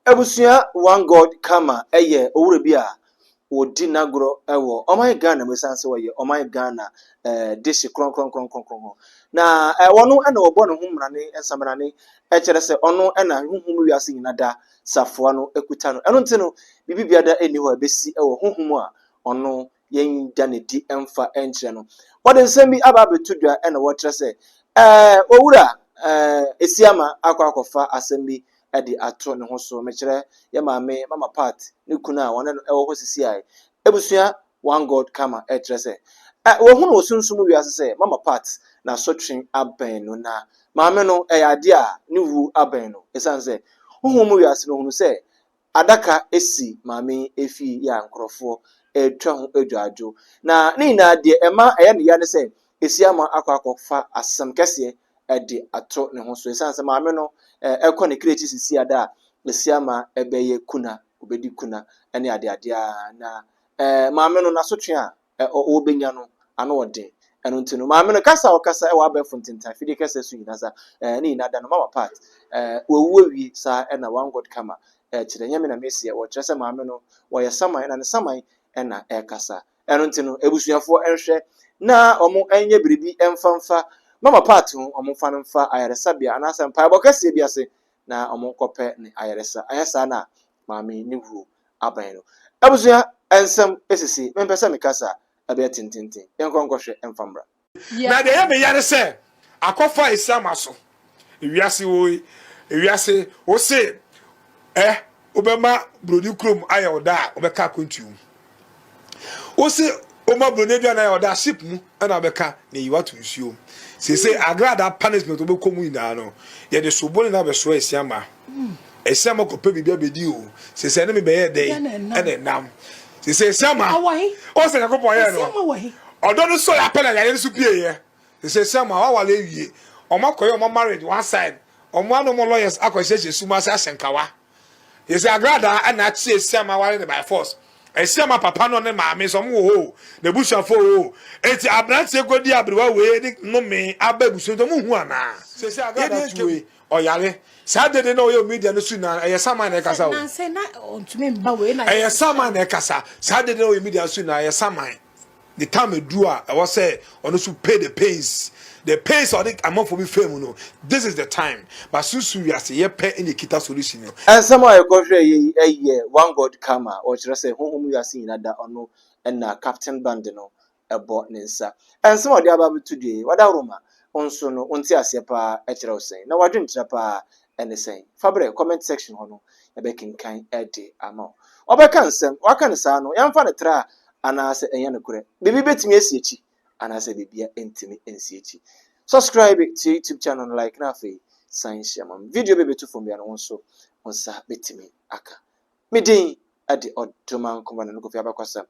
Abusua One God Karma yɛ owura bi a ɔdi n'agorɔ wɔ ɔman Ghana mu ɛsiane sɛ ɔyɛ ɔman Ghana dehye krɔnkrɔnkrɔnkrɔn. Na ɔno na wɔbɔ ne ho mmara ne nsamena ne kyerɛ sɛ ɔno na honhom wiase nyina da safoa no kuta no. Ɛno nti no biribi biada nni hɔ a ɛbɛsi wɔ honhom a ɔno yɛnda no adi mfa nkyerɛ no. Wɔde nsɛm bi aba abɛto dwa na wɔkyerɛ sɛ, Ɛɛ, owura, ɛɛ, Esiama akɔ akɔfa asɛm bi de ato ne ho so. Mekyerɛ, yɛn maame, Mama Pat, ne kunu a wɔne no wɔ hɔ sisiae. Abusua One God Karma kyerɛ sɛ, Ɛɛ, wɔahu no wɔ sunsum wiase sɛ Mama Pat n'asotwe abɛn no, na maame no, ɛyɛ ade a ne wu abɛn no, esiane sɛ honhom mu wiase no hunu sɛ adaka si maame yi fie yi a nkurɔfoɔ retwa ho adwadwo. Na ne nyinaa deɛ ɛma ɛyɛ ne ya ne sɛ, Asiamah akɔ akɔfa asɛm kɛseɛ de ato ne ho so. Ɛsiane sɛ maame no kɔ ne kra akyi sisi ada a, Asiamah bɛyɛ kuna, ɔbɛdi kuna ne adeade ara. Na maame no, n'asotwe a ɔrebɛnya no ano ɔden. Ɛno nti no, maame no kasa a ɔkasa wɔ abɛɛfo ntentan fidie kɛseɛ so nyina sa, ɛɛ, ne nyina da no, mama part, ɛɛ, wawu awie saa ɛna one God kama, ɛɛ, kyerɛ, ɛnyɛ me na mɛsi ɛwɔ, kyerɛ sɛ maame no, ɔyɛ saman ɛna ne saman ɛna ɛkasa. Ɛno nti no, abusuafoɔ ɛnhwɛ na ɔmo ɛnyɛ biribi ɛmfa mfa mama part ho, ɔmo mfa no mfa ayaresabea anaasɛ mpaebɔ kɛseɛ bi ase na ɔmo nkɔpɛ ne ayaresa, anyɛ saa no a, maame ne wuo abɛn no. Abusua nsɛm sisi, mempɛ sɛ mekasa a, ɛbɛyɛ tententen. Yɛnkɔ nkɔhwɛ mfa mmra. Na deɛ ɛyɛ me ya ne sɛ, akɔfa asiam aso. Ewiase woi, ewiase, wo se eh, wobɛma buroni kurom ayɛ wo dɛ a, wobɛka akwantuo mu. Wose woma buroni aduane a ɔda ship mu ɛna abɛka na eyi wato nsuo mu. Sese agradaa punishment wobɛkɔ mu nyinaa no yɛde sobo ne na bɛsoa asiama. Asiama kɔpɛ biribi abɛdi o. Sese ɛne me bɛyɛ dɛn ɛna ɛnam. Sese asiama ɔsɛ Nyankopɔn yɛɛ no ɔdɔ no sɔre apɛ na yare no so pieeɛ. Sese asiama waware awie. Ɔmo akɔyɛ ɔmo marriage one side. Ɔmo ano ɔmo lawyers akɔhyehyɛ sum ase ahyɛ nkawa. Yɛsi agradaa ɛna akye esiama ware ne by force esiama papa no ne maame sɛ ɔmo wɔ hɔ o na ebusuafo wɔ hɔ o eti abranteɛ kɔ di abrewa wei de nome aba ebusua nti ɔmo hu anaa. Sɛsi agradaa tu wei ɔyare saa dede na ɔyɛ omidia no su naa ɛyɛ saman na ɛkasa o ɛyɛ saman na ɛkasa saa dede na ɔyɛ omidia su naa ɛyɛ saman. the time aduru a ɛwɔ sɛ ɔno nso pay the pains the pains a ɔde amanfoɔ bi faa mu no this is the time but susu wiase yɛ pɛ ɛna ekita solution no. Nsɛm a yɛkɔhwɛɛ yɛ yi ɛyɛ one God karma ɔkyerɛ sɛ honhom wiase nyinaa da ɔno ɛna captain band no ɛbɔ ne nsa nsɛm a ɔde aba abɛto dua yi wadaworo ma nso no wonte aseɛ paa ɛkyerɛ wo sɛn na wadwenkyerɛ paa ɛne sɛn? Fa brɛ, comment section hɔ no yɛbɛkenkan de ama wo. Ɔbɛka nsɛm, waka no saa no, yɛmfa no tra anaasɛ ɛnyɛ nokorɛ? Biribi bɛtumi asi akyi anaasɛ biribia ntumi nsi akyi? Subscribe to your YouTube channel no like na afei san hyɛ ma me video bɛbɛtu fam bia no wo nso wo nsa bɛtumi aka. me din de Ɔdoman Kɔmanda no Kofi abakɔsɛm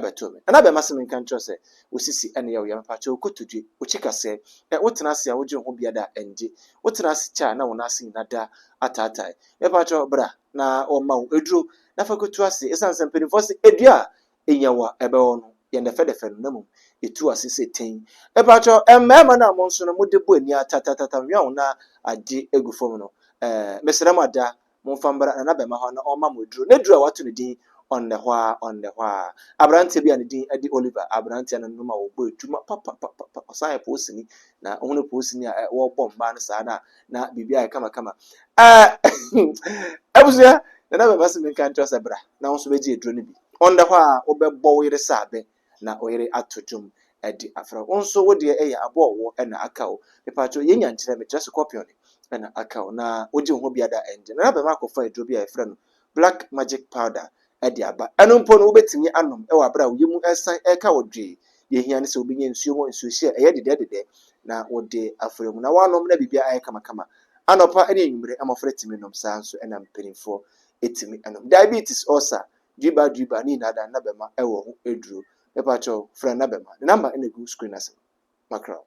bɛtoo me. Nana bɛmma se menka nkyerɛ wo sɛ wo sisi ne yɛ wo ya mepakyɛw kotodwe, wo kyi kasɛɛ, eh wo tena ase a wodwen ho biada a ɛngye, wo tena ase kyɛ a na wo nan ase nyina da ataatae, mepakyɛw bra na wɔmma wo aduro na fa kotu ase esiane sɛ mpaninfoɔ se adua a enya wo a ɛbɛwɔ no yɛ ndɛfɛdɛfɛ no na mmom etu ase sɛ ten, mepakyɛw eh mmarima no a mo nso no mode bɔ ani a tatatatam nweaw na agye egu fam no eh mesrɛ mo ada Momfa mbra Nana Bɛmma hɔ na ɔmma mo eduru, n'eduru a wɔato no din Ɔnnɛhɔaa, Ɔnnɛhɔaa. Aberantsɛ bi a ne dzin de Oliver, aberantsɛ no no ma wɔbɔɔ edwuma papapapapa, ɔsan yɛ poosini, na ohun dɛ poosini a wɔbɔ mbaa no saa no a, na biribiara ayɛ kamakama. Aah! Ebusua, Nana Bɛmma se menka nkyerɛ wo sɛ bra na wo so bɛgye eduru no bi. Ɔnnɛhɔaa, wobɛbɔ wo yere sɛ abɛn. na oyere ato dwom de afrɛ wo. Wo nso wo deɛ ɛyɛ abɔɔwo na aka o. Mepaakyɛw yɛ nya nkyerɛ me, kyerɛ sɛ kɔpiɔn na aka o. Na wogye wo ho bia da ɛngye. Nana bɛma akɔfa aduro bi a yɛfrɛ no black magic powder de aba. Ɛno mpo no wobɛtumi anom wɔ aberɛ a wo yɛ mu ɛresan ɛreka wo dwee. Deɛ ɛhia ne sɛ wobɛnya nsuo mu nsuohyɛ a ɛyɛ dedɛ dedɛ na wode afra mu. Na woanom na biribiara ayɛ kama kama. Anɔpa ne anwumerɛ, mmɔfra tumi nom, saa nso na mpaninfoɔ tumi nom. Diabetes, ulcer, driba driba ne nyinaa da na bɛma ɛwɔ ho aduro mepakyɛw frɛ na bɛma ne number na egu screen ase no makra wo.